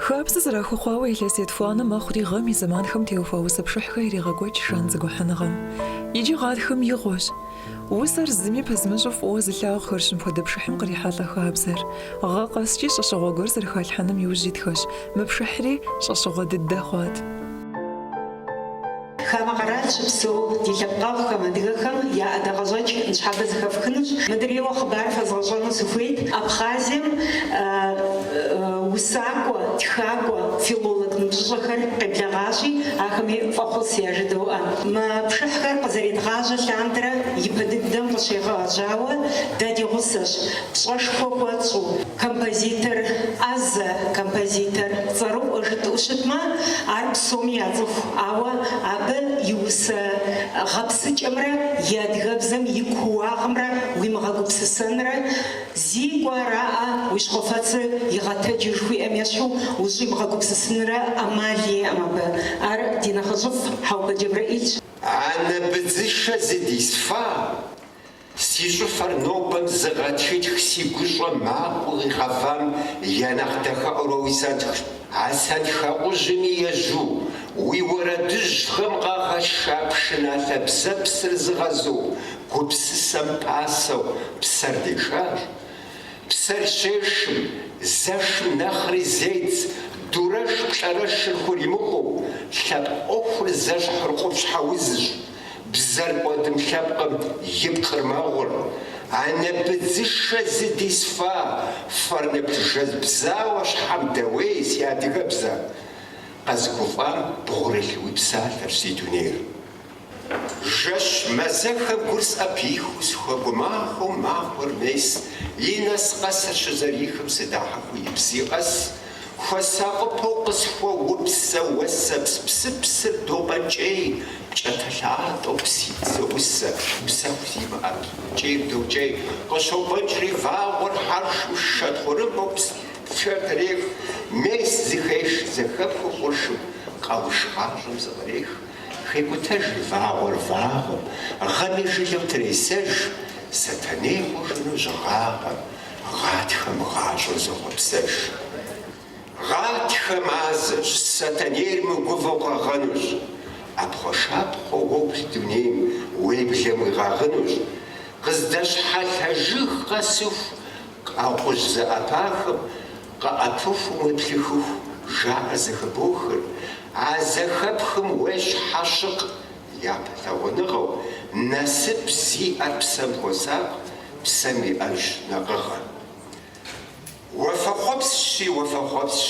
Хабзэ зэрахуэхъуауэ илъэс етхуанэ мэхъури гъэм и зэманхэм теухуа усэ пшыхьхэр ирегъэкӏуэкӏ Жан зэгухьэныгъэм. Иджы гъатхэм игъуэщ. Усэр зыми пэзмыщӏу фӏыуэ зылъагъухэрщ мыпхуэдэ пшыхьым кърихьэлӏэ хабзэр. Гъэ къэскӏи щӏэщыгъуэ гуэр зэрыхалъхьэным иужь итхэщ, мы пшыхьри щӏэщыгъуэ дыдэ хъуат. Хамэ къэрал щыпсэу ди лъэпкъэгъухэм, адыгэхэм я ӏэдакъэщӏэкӏ ныщхьэбэ зэхэфхынущ. Мыдрейуэ хъыбар фэзгъэщӏэну сыхуейт Абхъазием усакӏуэ, тхакӏуэ, филолог ныбжьыщӏэхэр къеблэгъащи, ахэми фӏэхъус яжыдоӏэ. Мы пшыхьхэр къызэредгъажьэ лъандэрэ ипэ дыдэм къыщегъэжьауэ дэ ди гъусэщ, пщӏэшхуэ хуэтщӏу, композитор ӏэзэ, композитор цӏэрыӏуэ жытӏэу щытмэ, ар псоми яцӏыху, ауэ абы и усэ гъэпсыкӏэмрэ и адыгэбзэм и кууагъымрэ уимыгъэгупсысэнрэ, Зикӏуэ араӏэ уи щхьэфэцыр игъэтэджыр жыхуиӏэм ещхьу ущӏимыгъэгупсысынрэ ӏэмал иӏэм абы. Ар ди нэхъыжьыфӏ Хьэӏупэ Джэбрэӏилщ. Анэ быдзышэ зыдисфа, си щӏыфэр нобэм зыгъэтхытх си гущӏэ макъыу къигъэвам я нэхъ дахэӏуэр уэ уи сэнтхщ. А сэнтхэӏужьми ежьу, уи уэрэдыжьхэм къагъэша пшыналъэ бзэпсыр зыгъэзу, гупсысэм пасэу псэр дешащ, псэр щешым, зэшым нэхъри зедз, дурэшплӏэрэшыр хуримыкъуу, лъэпкъ ӏуэхур зэщхьыр къупщхьэ узщ, бзэр кӏуэдым лъэпкъым и пкъыр мэгъур, анэ быдзышэ зыдисфа, фэр нэплъыжэз бзауэ щхьэм дэуей, си адыгэбзэ! Къэзыгуфӏам бгъурылъ уи псалъэрщ си дунейр. Жэщ мазэхэ гур сӏэпихыу сыхуэгумахуэу махуэр мес и нэс къэсыр щызэрихым сыдахьэхыу и бзий къэс хуэсакъыпэу къысхуэупсэ уэсэпс псыпсыр допӏэкӏей пкӏатэлъатэу псыдзэ усэ псэху зимыӏэ пкӏейр докӏей къыщопӏэнкӏри вагъуэр хьэршым шэ тхъурымбэу пшэр трех мес зыхеш зэхэпхыу къуршым къэуш гъащӏэм зыкърех Хекӏутэж вагъуэр вагъэм, гъэми жылэу тресэж, Сэтэней хъужыну щыгъагъэм, гъатхэм гъащӏэр зохъуэпсэж. Гъатхэ мазэщ, Сэтэнейр мыгувэу къэгъэнущ, ӏэпхъуэшапхъуэ уоплъ дунейм уеблэм уигъэгъынущ, Къыздэщхьэлъэ жыг къэсыху, Къэхъужь зэӏэпахэм къаӏэпыхум уеплъыхыху жаӏэ зэхыбохыр, а зэхэпхым уещӏ хьэщыкъ япэ лъагъуныгъэу, насып зиӏэр псэм хуосакъ, псэм иӏэж нэкъыгъэр. Уафэхъуэпсщи, уафэхъуэпсщ!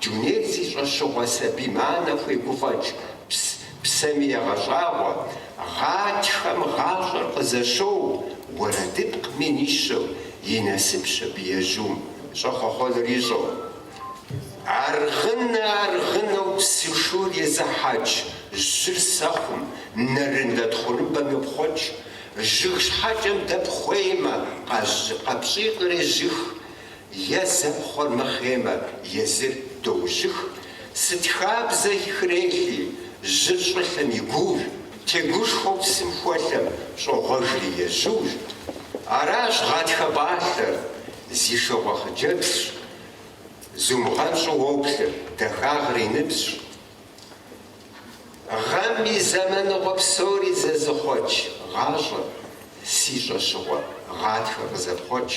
Дунейр зи щӏэщыгъуэ сабийм анэ хуегуфӏэкӏ, пс, псэми егъэщӏагъуэ, гъатхэм гъащӏэр къызэщоу, уэрэдыпкъ мин ищэу, и насыпщ абы ежьум, щӏэхъуэхъуэнур ищӏэу. Аргъынэ, аргъынэу псышур езыхьэкӏ, жьыр сэхъум, нэрынлэ тхъурымбэм йопхъуэкӏ, жыг щхьэкӏэм дэпхъуеймэ, къэпщӏий кърежьых, Е зэпхъуэр мыхъеймэ, езыр доужьых. Сыт хабзэ хрелъи, жьыр щӏылъэм и гуур, тегушхуэу псым хуэлъэм щӏогъуэжри ежьур. Аращ гъатхэ пӏалъэр, зи шыгъуэ хъыджэбзщ. Зумыгъэнщӏу уоплъыр, дахагъэр и ныбжьщ. Гъэм и зэманыгъуэ псори зэзыхъуэкӏ гъащӏэ, си щӏэщыгъуэ гъатхэ къызэпхъуэкӏ.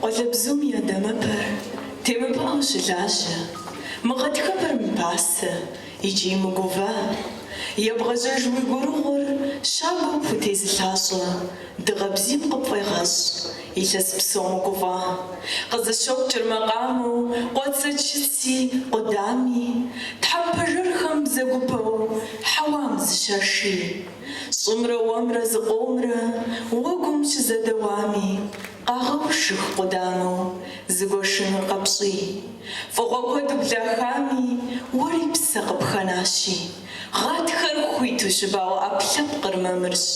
Къуалэбзум и дамэпэр темыпыӏэу щылажьэ, мы гъэтхэпэр мыпасэ икӏи мыгува. Ебгъэжьэж уи гурыгъур щабэу пхутезылъащӏэ, дыгъэ бзийм къыпфӏегъэщӏ, илъэс псом угуфӏа. Къызыщокӏыр макъамэу къуацэ чыци къудами, тхьэмпэ жырхэм бзэгупэу, хьэуам зыщаши. Щӏымрэ уэмрэ зыкъомрэ уэгум щызэдэуами, Къагъэушых къудамэу зыгуэшынур къэпщӏий. Фӏыгъуэ куэд ублахами, уэри псэ къыпхэнащи, гъатхэр хуиту щыбауэ ӏэпкълъэпкъыр мамырщ.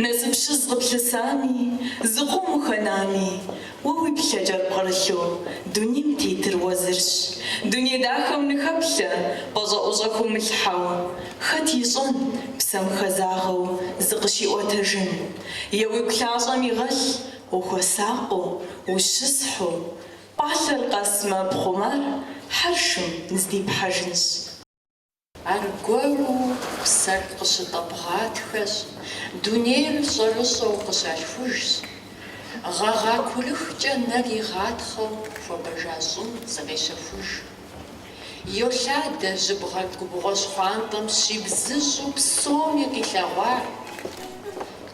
Насыпщыз къыплъысами, зыкъом ухэнами, уэ уи плъэкӏэр пкърылъу дунейм тетыр уэ зырщ. Дуней дахэм ныхэплъэ, пӏэщӏэӏущӏэ хумылъхьэу, хэт ищӏэн, псэм хэзагъэу зыкъыщиӏуэтэжын? Е уигу лъащӏэм игъэлъ ухуэсакъыу, ущысхьу, пӏалъэр къэсмэ пхъумэр хьэршым здипхьэжынщ. Аргуэру псэр къыщытӏэпӏ гъатхэщ, дунейр щӏэрыщӏэу къыщалъхужщ. Гъэгъа курыхкӏэ нэр игъатхъэу хуэбэжа щӏым зыкъещэхуж Йолъадэ жьыбгъэр губгъуэ щхъуантӏэм щибзыщӏу псоми къилъэгъуар,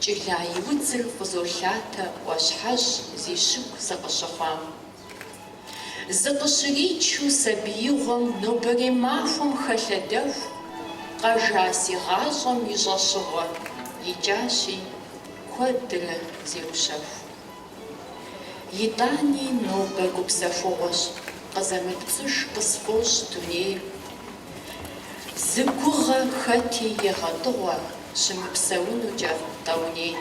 Кӏыла и удзыр къызолъатэ ӏуащхьэжь зи щыгу сыкъыщыхъуам. Зыкъыщричу сабиигъуэм нобэрей махуэм хэлъэдэху къэжа си гъащӏэм и щӏэщыгъуэ икӏащи, куэдрэ зеущэху. Итӏани нобэ гупсэхугъуэщ, къызэмыпцӏыж къысфӏощӏ дунейр. Зы гугъэ хэти егъэтӏыгъуэ щымыпсэунукӏэ тӏэуней.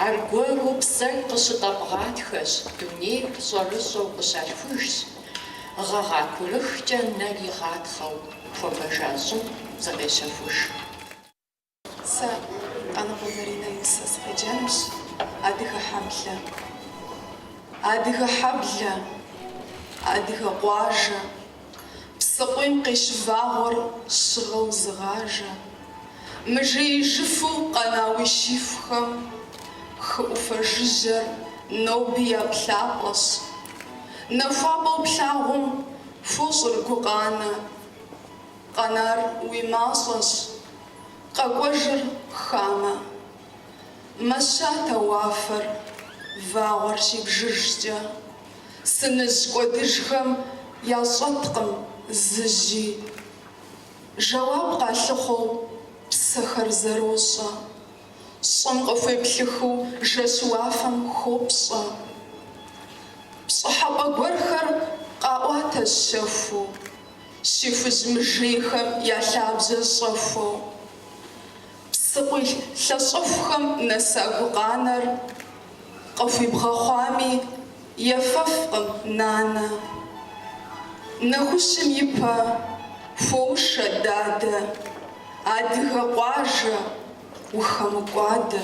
Аргуэру псэр къыщытӏэпӏ гъатхэщ, дунейр щӏэрыщӏэу къыщалъхужщ, гъэгъа курыхкӏэ нэр игъатхъэу хуэбэжа щӏым зыкъещэхуж. Сэ Къаныкъуэ Заринэ и усэ сыкъеджэнущ, адыгэ хьэблэ, адыгэ хьэблэ, адыгэ къуажэ, псыкъуийм къещывагъуэр щыгъэу зыгъажэ, мыжеижыфу къэна уи щихухэм хы ӏуфэ жыжьэр ноби я плъапӏэщ. Нахуапӏэу плъагъум хуощӏыр гукъанэ. Къэнар уи мащӏэщ, къэкӏуэжыр хамэ. Мэщатэ уафэр, вагъуэр щибжыжкӏэ. Сыныжь кӏуэдыжхэм ящӏэткъым зы жьи. Жэуап къалъыхъуэу псэхэр зэрощӏэ. Щӏым къыхуеплъыхыу жэщ уафэм хопщӏэ. Пщӏыхьэпӏэ гуэрхэр къаӏуатэ щэхуу. Щихужь мыжейхэм я лъабжьэ щӏэхуэу. Псыкъуий лъэщӏэхухэм нэса гукъанэр къыхуибгъэхъуами, ефэфкъым нанэ. Нэхущым и пэ хуоушэ дадэ, адыгэ къуажэ, ухэмыкӏуадэ.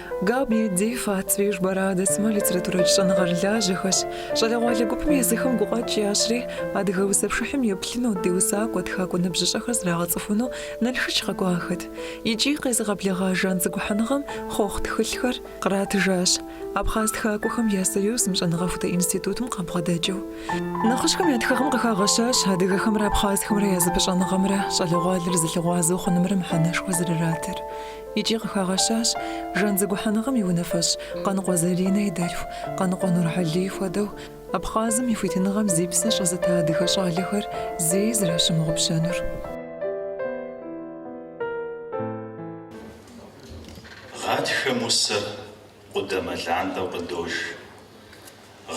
Габниа Дифа, Цвижба Радэ сымэ литературэкӏэ щӏэныгъэрылажьэхэщ. Щӏалэгъуалэ гупым езыхэм гукъэкӏ ящри, адыгэ усэпшыхьым еплъыну, ди усакӏуэ, тхакӏуэ ныбжьыщӏэхэр зрагъэцӏыхуну Налшыч къэкӏуахэт. Икӏи къезыгъэблэгъа Жан зэгухьэныгъэм хъуэхъу тхылъхэр къратыжащ, Абхъаз тхакӏуэхэм я союзым, щӏэныгъэхутэ институтым къабгъэдэкӏыу. Нэхъыжьхэм я тхыгъэм къыхагъэщащ адыгэхэмрэ абхъазхэмрэ я зэпыщӏэныгъэмрэ щӏалэгъуалэр зэлъыгъуазэу хъунымрэ мыхьэнэшхуэ зэрыратыр. Икӏи къыхагъэщащ Жан зэгухьэныгъэм и унафэщӏ Къаныкъуэ Заринэ и дэлъху Къаныкъуэ Нурхьэлий хуэдэу Абхъазым и хуитыныгъэм зи псэ щӏэзыта адыгэ щӏалэхэр зэи зэращымыгъупщэнур. Гъатхэм усэр къудамэ лантӏэу къыдож.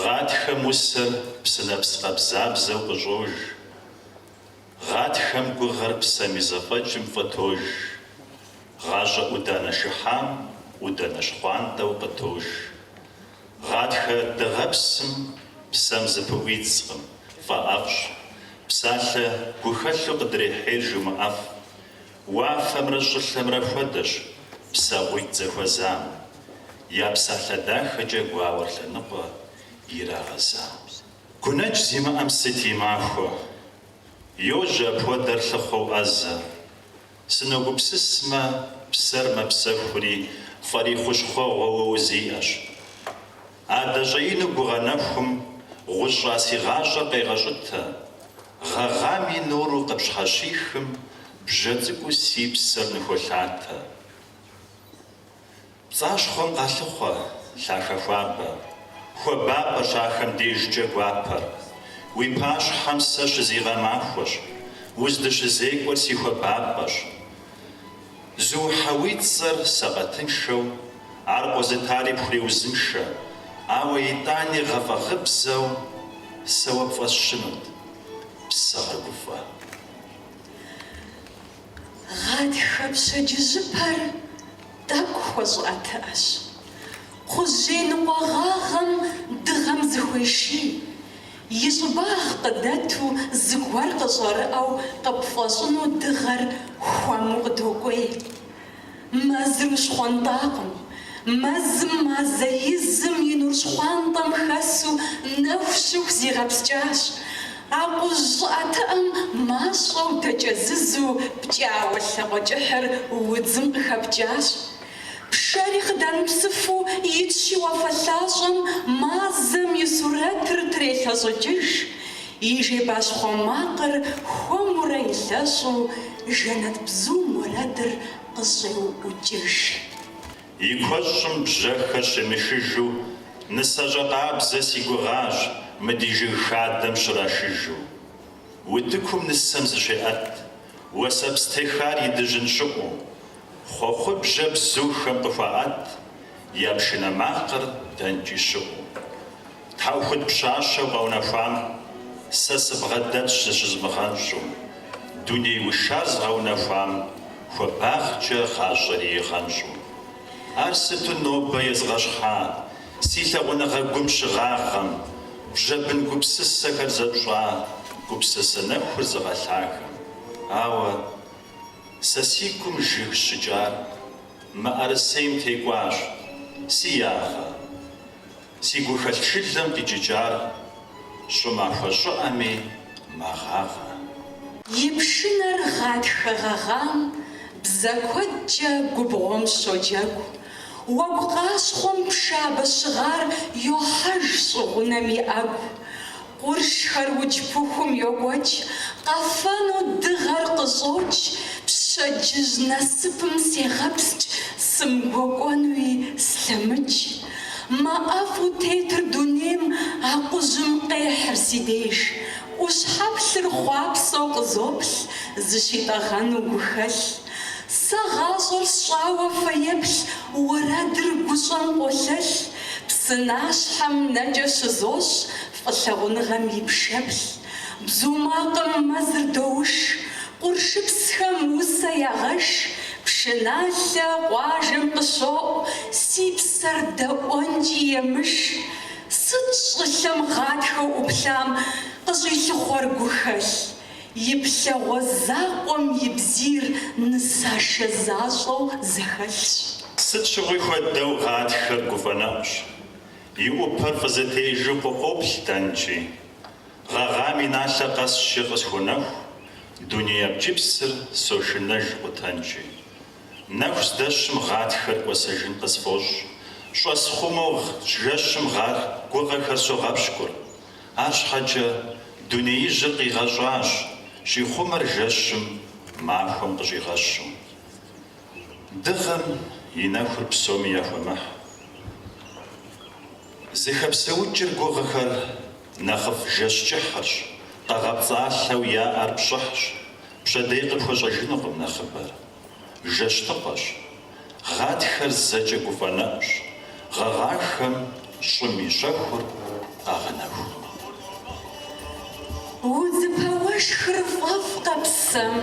Гъатхэм усэр псынэпс къабзабзэу къыщӏож. Гъатхэм гугъэр псэм и зэфӏэкӏым фӏытож. Гъащӏэ ӏуданэ шыхьам ӏуданэ щхъуантӏэу къытож. Гъатхэ дыгъэпсым псэм зыпыӏуидзкъым, фӏэӏэфӏщ. Псалъэ гухэлъу къыдрехьейр жумыӏэф. Уафэмрэ щӏылъэмрэ хуэдэщ псэгъуитӏ зэхуэзам, я псалъэ дахэкӏэ гуауэр лъэныкъуэ ирагъэзам. Гунэдж зимыӏэм сыт и махуэ? Йожьэ апхуэдэр лъыхъуэу ӏэзэ. Сыногупсысмэ, псэр мэпсэхури, фӏэри хущхъуэгъуэу уэ узиӏэщ. Адэ щӏэину гугъэ нэхум гъущӏа си гъащӏэр къегъэщӏытэ, гъэгъам и нуру къыпщхьэщихым, бжьэ цӏыкӏуу си псэр ныхуолъатэ. Пцӏащхъуэм къалъыхъуэ лъахэ хуабэ. Хуабапӏэщ ахэм дежкӏэ гуапэр. Уи пащхьэм сэ щызигъэмахуэщ. Уздыщызекӏуэр си хуабапӏэщ. Зухьэ уи цӏэр сэкъатыншэу, ар къозытари пхуреузыншэ, ауэ итӏани гъэфӏэгъыбзэу сэ уэ пфӏэсщынут псэ гъэгуфӏэ. Гъатхэ пщэдджыжьыпэр тӏэкӏу хуэщӏыӏэтыӏэщ. Кхъужьей ныкъуэгъагъэм дыгъэм зыхуеший, и щӏыбагъ къыдэту зыгуэр къыщӏэрыӏэу къыпфӏэщӏыну дыгъэр хуэму къыдокӏуей. Мэзыр ущхъуэнтӏакъым. Мэзым мазэ изым и нур щхъуантӏэм хэсу нэху щыху зигъэпскӏащ. Акъужь щӏыӏэтыӏэм мащӏэу дэкӏэзызу пкӏауэ лъакъуэ кӏыхьыр удзым къыхэпкӏащ. Пшэри къыдэмыпсыфу итщи уафэ лъащӏэм мазэм и сурэтыр трелъэщӏыкӏыж. И жейбащхъуэ макъыр хуэмурэ илъэщӏу жэнэт бзум уэрэдыр къыщӏеуӏукӏыж. И куэщӏым бжьэхэр щемышыжу, Нысэщӏэ къабзэ си гугъащ мы ди жыг хадэм щрашыжу. Утыкум нысэм зыщеӏэт уэсэпс техар и дыжьын щыӏу, Хъуэхъубжьэ бзухэм къыхуаӏэт я пшынэ макъыр дэнкӏи щыӏу. Тхьэӏухуд пщащэу къэунэхуам сэ сыбгъэдэтщ зыщызмыгъэнщӏу, дуней ушар згъэунэхуам хуабагъкӏэ гъащӏэри игъэнщӏу. Ар сыту нобэ езгъэщхьа си лъагъуныгъэ гум щыгъагъэм, бжьэ бын гупсысэхэр зэпщӏа гупсысэ нэхур зыгъэлъахэм. Ауэ сэ си гум жыг щыкӏар мыӏэрысейм текӏуащ, си ягъэ, Си гухэлъ шылэм къикӏыкӏар щӏымахуэ щӏыӏэми мэгъагъэ. И пшынэр гъатхэ гъэгъам бзэ куэдкӏэ губгъуэм щоджэгу, уэгу къащхъуэм пшабэ щыгъар йохьэж щӏыгъунэм и ӏэгу, Къуршхэр удж пыхум йокӏуэкӏ, къэфэну дыгъэр къыщӏокӏ, пщэдджыжь насыпым сегъэпскӏ, сымгуэкӏуэнуи слъэмыкӏ. Мэ ӏэфӏу тетыр дунейм акъужьым къехьыр си деж, ӏущхьэплъыр хъуапсэу къызоплъ, зыщитӏэгъэну гухэлъ. Сэ гъащӏэр сщӏауэ фэеплъ уэрэдыр гущӏэм къолъэлъ, псынащхьэм нэкӏэ щызощӏ фӏылъагъуныгъэм и пшэплъ. Бзу макъым мэзыр доуш, къуршыпсхэм усэ ягъэш, пшыналъэ къуажэм къыщоӏу, си псэр дэӏуэнкӏи емыш. Сыт щӏылъэм гъатхэу ӏуплъам къыщӏилъыхъуэр гухэлъ? И плъэгъуэ закъуэм и бзийр нысашэ защӏэу зэхэлъщ. Сыт щыгъуи хуэдэу гъатхэр гуфӏэнэӏущ. И ӏупэр фӏызэтежу къыӏуоплъ дэнкӏи. Гъэгъам и налъэ къэсщи къысхунэху, дуней абджыпсыр сошынэж къутэнкӏи. Нэху здэщым гъатхэр кӏуэсэжын къысфӏощӏ, щӏэсхъумэу жэщым гъа гугъэхэр согъэпщкӏур. Арщхьэкӏэ дунеижьыр къигъэщӏащ, щӏихъумэр жэщым, махуэм къыщӏигъэщу. Дыгъэм и нэхур псоми яхуэмыхь. Зыхэпсэукӏыр гугъэхэр нэхъыфӏ жэщ кӏыхьырщ, къэгъэпцӏалъэу яӏэр пщӏыхьщ, пщэдей къыпхуэщӏэжынукъым нэхъыбэр. жэщтыкъэщ, гъатхэр зэкӏэ гуфӏэнэӏущ, гъэгъахэм щӏым и щэхур къагъэнэху. Удзыпэ уэшхыр фӏэфӏкъэ псэм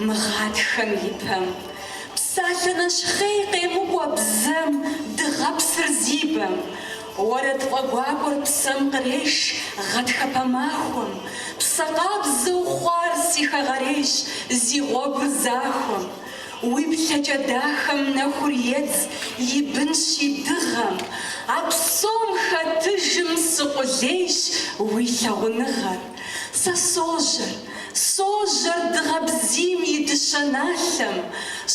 мы гъатхэм и пэм, псалъэ нэщхъей къемыкӏуэ бзэм дыгъэпсыр зи бэм, Уэрэд фӏэгуакӏуэр псэм къреш гъатхэпэ махуэм, Псэ къабзэу хъуар си хэгъэрейщ зи гъуэгур захуэм. Уи плъэкӏэ дахэм нэхур едз и бынщи дыгъэм, А псом хэтыжым сыкъулейщ уи лъагъуныгъэр. Сэ сожьэр, Сожьэр дыгъэ бзийм и дыщэ налъэм,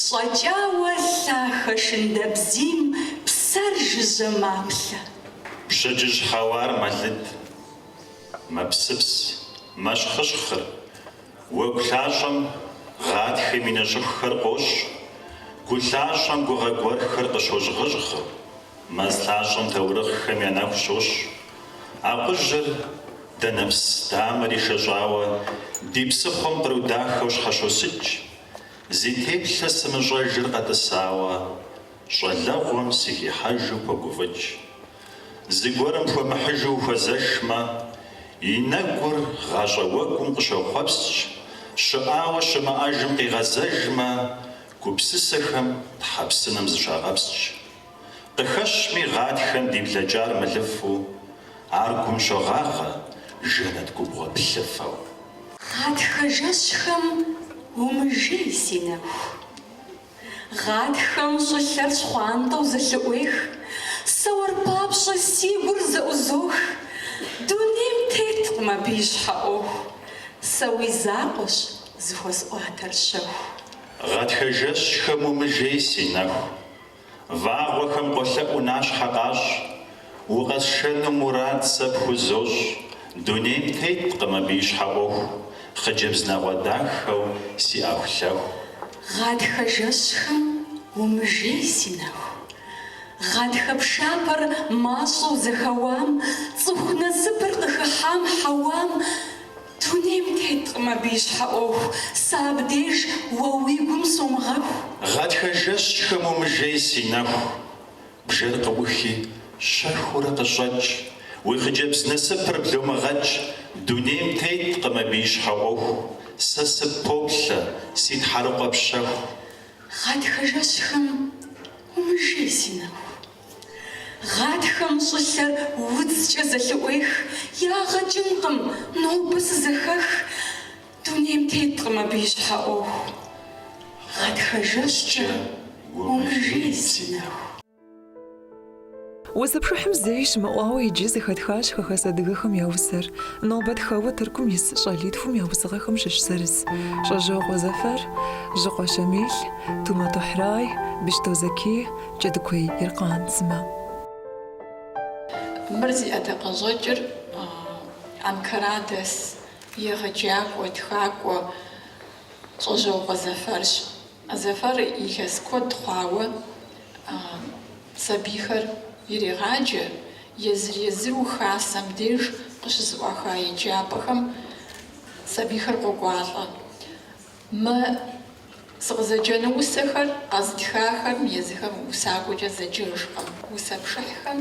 щӏэкӏауэ лъахэ шындэбзийм псэр жыжьэ маплъэ. Пщэдджыжь хьэуар мэлыд, мэпсыпс, мэщхъыщхъыр, уэгу лъащӏэм гъатхэм и нэ щӏыхухэр къощӏ, гу лъащӏэм гугъэ гуэрхэр къыщожьгъыжьгъыр. Мэз лъащӏэм таурыхъхэм я нэху щощӏ. Акъужьыр, данэпс дамэр ишэщӏауэ, ди псыхъуэм къру дахэу щхьэщосыкӏ, зи теплъэ сымыщӏэжыр къэтӏысауэ, щӏалэгъуэм сыхихьэжу погуфӏыкӏ. Зыгуэрым пхуэмыхьыжу ухуэзэшмэ, и нэгур гъащӏэ уэгум къыщохъуэпскӏ, щыӏауэ щымыӏэжым къигъэзэжмэ, Гупсысэхэм Тхьэ псынэм зыщагъэпскӏ. Къыхэщми гъатхэм ди блэкӏар мылыфу, ар гум щогъагъэ жэнэт губгъуэ плъыфэу. Гъатхэ жэщхэм умыжей, си нэху. Гъатхэм щӏылъэр щхъуантӏэу зэлъыӏуех, сэ уэр папщӏэ си гур зэӏузох. Дунейм теткъым абы и щхьэ ӏуэху, сэ уи закъуэщ, Зыхуэсӏуатэр щэху. Гъатхэ жэщхэм умыжей, си нэху. Вагъуэхэм къолъэӏуу нащхьэ къащӏ. Укъэсшэну мурад сэ пхузощӏ. Дунейм теткъым абы и щхьэ ӏуэху. Хъыджэбз нэгъуэ дахэу си ӏэхулъэху. Гъатхэ жэщхэм умыжей, си нэху. Гъатхэ пшапэр мащӏэу зэхэуам, Цӏыху насыпыр къыхыхьам хьэуам, Дунейм теткъым абы и щхьэ ӏуэху, сэ абдеж уэ уи гум сомыгъэху. Гъатхэ жэщхэм умыжей си нэху, бжэр къыӏухи, щэхуурэ къыщӏэкӏ, уи хъыджэбз насыпыр бломыгъэкӏ, дунейм теткъым абы и щхьэ ӏуэху, сэ сыппоплъэ, си тхьэрыкъуэ пщэху. Гъатхэ жэщхэм умыжей си нэху. Гъатхэм щӏылъэр удзкӏэ зэлъыӏуех, Ягъэ кӏынкъым, нобэ сызэхэх. Дунейм теткъым абы и щхьэ ӏуэху, Гъатхэ жэщкӏэ умыжей си нэху. Усэ пшыхьым зэи щымыӏуауэ иджы зэхэтхащ хэхэс адыгэхэм я усэр. Нобэ тхэуэ Тыркум ис щӏалитхум я усыгъэхэм щыщ зырыз, Щӏэжьокъуэ Зэфэр, Жьыкъуэ Щамил, Тумэ Тохьрай, Быщто Зэкий, Джэдыкуей Иркъан сымэ. Мыр зи ӏэдакъэщӏэкӏыр Анкарадэс егъэджакӏуэ, тхакӏуэ Щӏэжьокъуэ Зэфэрщ. Зэфэр илъэс куэд хъуауэ сабийхэр ирегъаджэ, езыр-езыру хасэм деж къыщызэӏуаха еджапӏэхэм сабийхэр къокӏуалӏэ. Мы сыкъызэджэну усэхэр къэзытхахэм езыхэм усакӏуэкӏэ зэджэжкъым. Усэ пшыхьхэм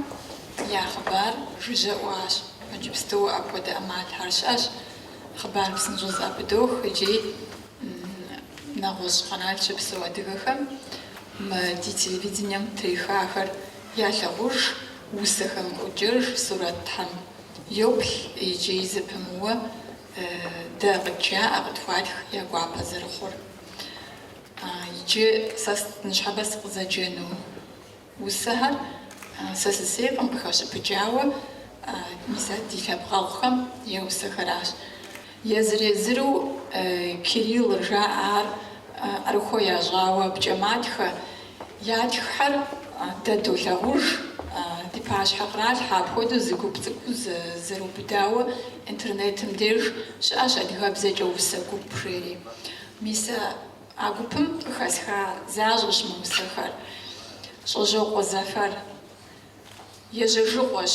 я хъыбар жыжьэ ӏуащ. Иджыпсту апхуэдэ ӏэмалхэр щыӏэщ, хъыбар псынщӏэу зэӏэпыдох икӏи нэгъуэщӏ къэрал щыпсэу адыгэхэм мы ди телевидением трихахэр ялъагъуж, усэхэм йоджэж, сурэтхэм йоплъ икӏи зэпымыууэ Дэ къыджаӏэ, къытхуатх я гуапэ зэрыхъур. Иджы сэ ныщхьэбэ сыкъызэджэну усэхэр сэ сысейкъым къыхэщыпыкӏауэ, мис а ди лъэпкъэгъухэм я усэхэращ. Езыр-езыру кириллыр жаӏэ ар ӏэрыхуэ ящӏауэ абыкӏэ матхэ Ятххэр дэ долъагъуж, ди пащхьэ къралъхьэ, апхуэдэу зы гуп цӏыкӏу зэрыубыдауэ интернетым деж щыӏэщ адыгэбзэкӏэ усэ гуп жери. Мис а гупым къыхэсха защӏэщ мы усэхэр. Щӏэжьокъуэ Зэфэр. Ежьэжыгъуэщ.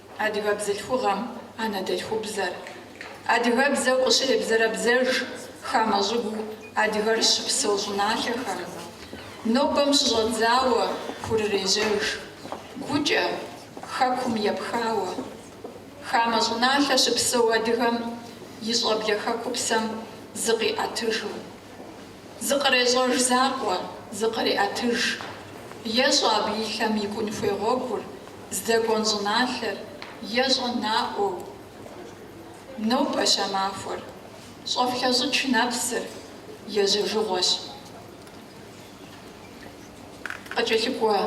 Адыгэ бзылъхугъэм анэдэлъхубзэр, адыгэбзэу къыщребзэрабзэж хамэ щӏыгуу адыгэр щыпсэу щӏыналъэхэм, нобэм щыщӏэдзауэ хурырежьэж, гукӏэ Хэкум епхауэ. Хамэ щӏыналъэ щыпсэу адыгэм и щӏэблэ хэкупсэм зыкъиӏэтыжу. Зыкърещӏэж закъуэ, зыкъреӏэтыж. Ещӏэ абы и лъэм икӏун хуей гъуэгур, здэкӏуэн щӏыналъэр, ещӏэ наӏуэу. Нобэщ а махуэр. Щӏэфлъэщӏыкӏ нэпсыр, ежьэжыгъуэщ. Къыкӏэлъыкӏуэ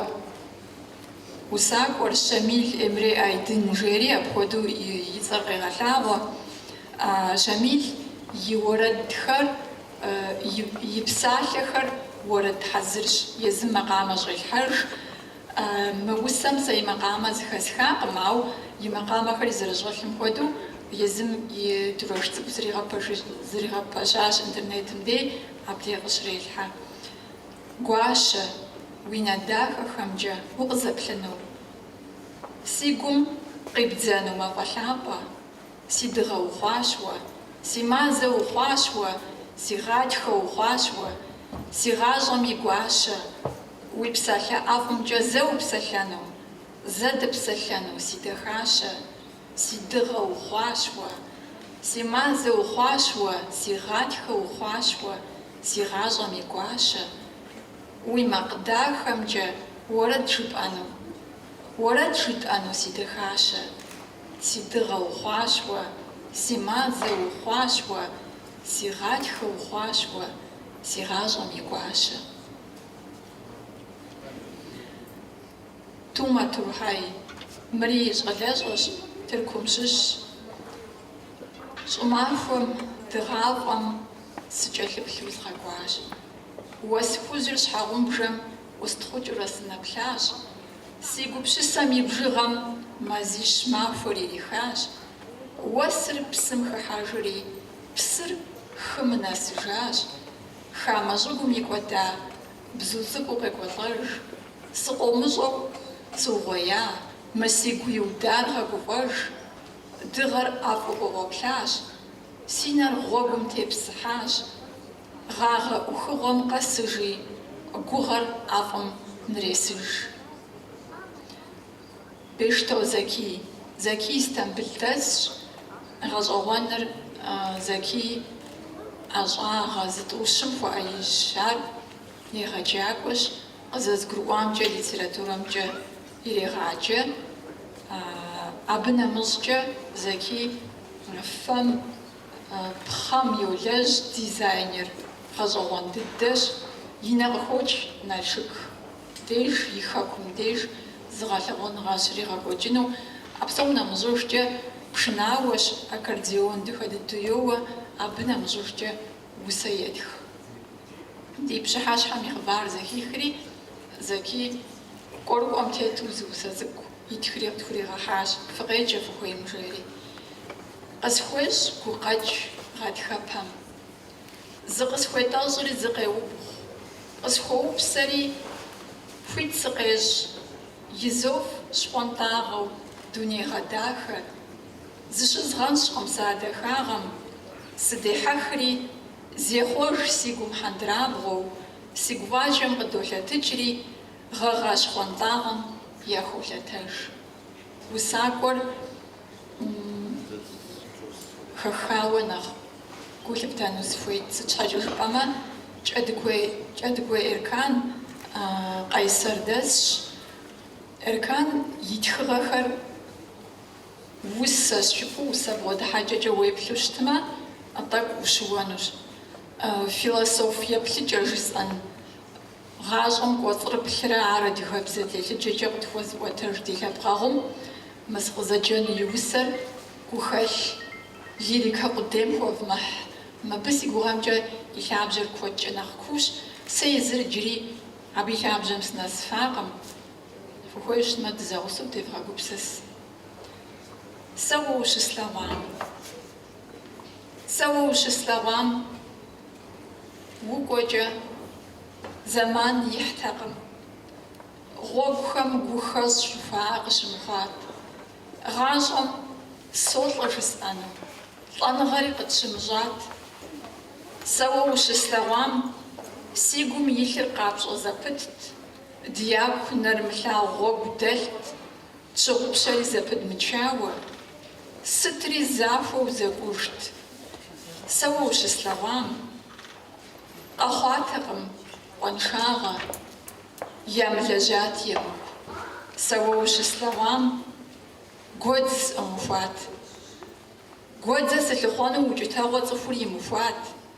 усакӏуэр Щамил Эмре Айдын жери апхуэдэу и цӏэр къегъэлъагъуэ. Щамил и уэрэдхэр. и псалъэхэр уэрэд хьэзырщ, езым макъамэ щӏелъхьэж. Мы усэм сэ и макъамэ зыхэсхакъым, ауэ и макъамэхэри зэрыщӏэлъым хуэдэу, езым и дурэш цӏыкӏу зригъэпэщащ интернетым дей, абдей къыщрелъхьэ. Гуащэ, уи нэ дахэхэмкӏэ укъызэплъыну, си гум къибдзэну мафӏэ лъапӏэ. Си дыгъэ ухъуащ уэ, си мазэ ухъуащ уэ, си гъатхэ ухъуащ уэ, си гъащӏэм и гуащэ, уи псалъэ ӏэфӏымкӏэ зэ упсэлъэну, зэ дыпсэлъэну, си дахащэ, си дыгъэ ухъуащ уэ, си мазэ ухъуащ уэ, си гъатхэ ухъуащ уэ, си гъащӏэм и гуащэ, уи макъ дахэмкӏэ уэрэд жыпӏэну. Уэрэд жытӏэну си дахащэ. Си дыгъэ ухъуащ уэ, си мазэ ухъуащ уэ, си гъатхэ ухъуащ уэ, си гъащӏэм и гуащэ. Тума Турхьай, мыри щӏалэщӏэщ, Тыркум щыщщ. Щӏымахуэм, дыгъафӏэм сыкӏэлъыплъу згъэкӏуащ. Уэс хужьыр щхьэгъубжэм ӏустхъукӏыурэ сынэплъащ, си гупщысэм и бжыгъэм мазищ махуэр ирихащ, уэсыр псым хыхьэжри, псыр хым нэсыжащ, хамэ щӏыгум икӏуэда бзу цӏыкӏуу къекӏуэлӏэж, сыкъомыщӏэу сыугъуея? Мы сигу иудар гъэгуфӏэж, дыгъэр ӏэфӏу къыкъуэплъащ, си нэр гъуэгум тепсыхьащ, Гъагъэ ӏухыгъуэм къэсыжи, гугъэр ӏэфӏым нресыж. Бештоу Зэкий. Зэкий Стамбыл дэсщ. Гъэщӏэгъуэныр Зэкий ӏэщӏагъэ зытӏущым хуэӏэижьщ. Ар егъэджакӏуэщ, къызэзгурыӏуамкӏэ литературэмкӏэ ирегъаджэ. Абы нэмыщӏкӏэ Зэкий фэм Пхъэм йолэжь дизайнер, гъэщӏэгъуэн дыдэщ, и нэ къыхокӏ Налшык деж, и хэкум деж зы гъэлъэгъуэныгъэ щригъэкӏуэкӏыну. А псом нэмыщӏыжкӏэ пшынауэщ, аккордеон дахэ дыдэу йоуэ, абы нэмыщӏыжкӏэ усэ етх. Ди пщыхьэщхьэм и хъыбар зэхихри, Зэки кӏуэрыкӏуэм тету зы усэ цӏыкӏу итхри къытхуригъэхьащ, фыкъеджэ фыхуейм жери. Къысхуещӏ гукъэкӏ гъатхэпэм. Зыкъысхуетӏэщӏри зыкъеубгъу, къысхуэупсэри хуит сыкъещӏ, Изов щхъуантӏагъэу дуней гъэдахэ, зыщызгъэнщӏкъым сэ а дахагъэм, сыдехьэхри, зехъуэж си гум хьэндырабгъуэу, си гуфӏакӏэм къыдолъэтыкӏри, гъэгъа щхъуантӏагъэм яхолъэтэж. Усакӏуэр хэхауэ нэхъ гу лъыптэну сыхуейт, сыт щхьэкӏэ жыпӏэмэ Кӏэдыгуей Эркан къайсэрдэсщ, Эркан и тхыгъэхэр усэ жыпӏэу, усэ бгъэдыхьэкӏэкӏэ уеплъу щытмэ, тӏэкӏу ущыуэнущ. Философ еплъыкӏэ жысӏэн. Гъащӏэм кӏуэцӏрыплърэ ар адыгэбзэ телъыджэкӏэ къытхуэзыӏуэтэж ди лъэпкъэгъум мы сыкъызэджэну и усэр гухэлъ лирикэ къудейм хуэвмыхь. Мыбы си гугъэмкӏэ и лъабжьэр куэдкӏэ нэхъ куущ. Сэ езыр иджыри абы и лъабжьэм сынэсыфакъым. Фыхуей щытмэ, дызэгъусэу девгъэгупсыс. Сэ уэ ущыслъэгъуам. Сэ уэ ущыслъэгъуам. Укӏуэкӏэ, зэман ихьтэкъым. Гъуэгухэм гухэщӏ жыхуаӏэр къыщымыхъуат. Гъащӏэм солӏэ жысӏэну, лӏэныгъэри къытщымыщӏат. Сэ уэ ущыслъэгъуам си гум илъыр къапщӏэ зэпытт, дяку нэрымылъагъу гъуэгу дэлът, Тщыгъупщэри зэпыдмычауэ, сытри захуэу зэкӏужт. Сэ уэ ущыслъэгъуам къэхъуатэкъым къуаншагъэ, ямылэжьат емыкӏу. Сэ уэ ущыслъэгъуам гуэдз сӏумыхуат. Гуэдзэ сылъыхъуэну укӏытэгъуэ цӏыхур имыхуат,